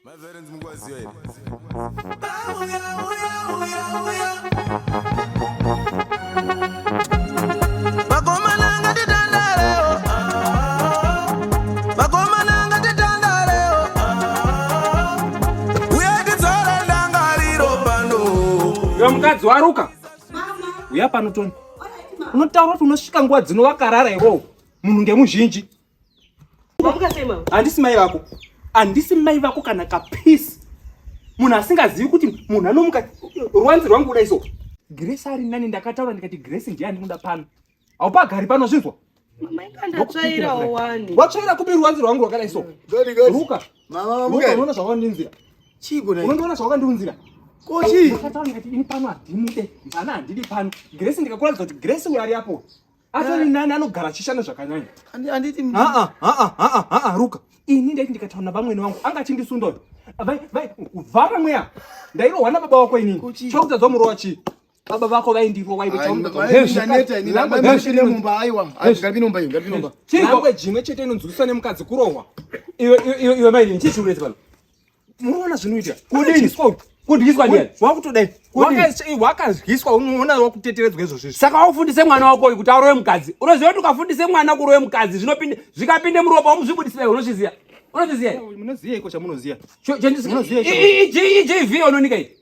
My parents mukwaziwa here? mukadzi waruka uya pano toni unotaura kuti unosvika nguva dzino wakarara iwowo munhu ngemuzhinji handisi mai vako handisi mai vako kana kapeace munhu asingazivi kuti munhu anomuka ruwanzi rwangu kudai so grace ari nani ndakataura ndikati grace ndiye andikuda pano haupagari pano zvinzwa watsvaira kupi ruwanzi rwangu rwakadai so ruka unoona zvawandinzira unondiona zvawakandiunzira kochii ndakataura ndikati ini pano handimude mvana handidi pano grace ndikakuratidza kuti grace uyo ari apo atori nani anogara achishanda zvakanyanya anditi haa haa haa haa ruka ini ndaiti ndikataura navamwene vangu anga achindisunda uyo vai vai vhara mweya ndairohwa nababa wako inini chokudza dzomurova chii baba vako vaindirwa waivechinwe chete inonzwisisa nemukadzi kurohwa iwe maini chichiurezi pano Muona zvinoita. Kudini? Kudyiswa ndiani? Wakutodai. Wakadyiswa unoona wakuteteredzwa izvo zvizvi. Saka waufundise mwana wako uyu kuti aroye mukadzi. Unoziva kuti ukafundise mwana kuroye mukadzi zvinopinde zvikapinde muropa umuzvibudisira iwe unozviziva. Unozviziva. Munoziva iko chamunoziva. Chandisimunoziva. GV unonika iyi.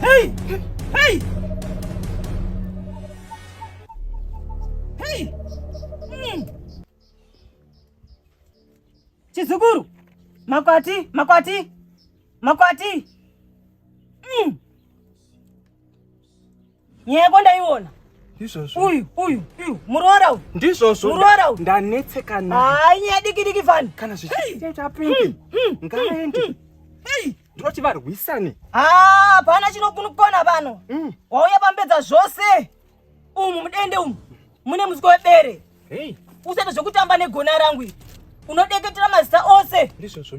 Hey! Hey! Hey! Mm. Chizukuru, makwati, makwati, makwati. Mm. nyaya yako ndaiona ndizvozvo uyu uyu uyu muroora uyu ndizvozvo muroora uyu ndanetseka naye hayi nyaya diki diki fani kana zvichiita pingi hmm, hmm, hmm, ngaende ndoti varwisane hapana ah, chinokunukona pano wauya pambedza zvose umu mudende umu mune musiko webere usati zvekutamba negona rangu unodeketera mazita ose ndizvozvo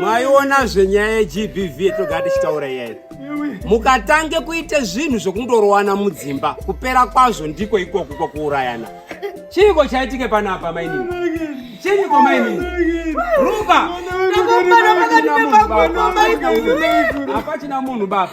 mwaiona zvenyaya yegbv yetoga tichitaura iyayi mukatange kuita zvinhu zvekundorowana mudzimba kupera kwazvo ndiko ikoku kwakuurayana chiiko chaitike panapa mainini chiiko mainini ruka hapachina munhu baba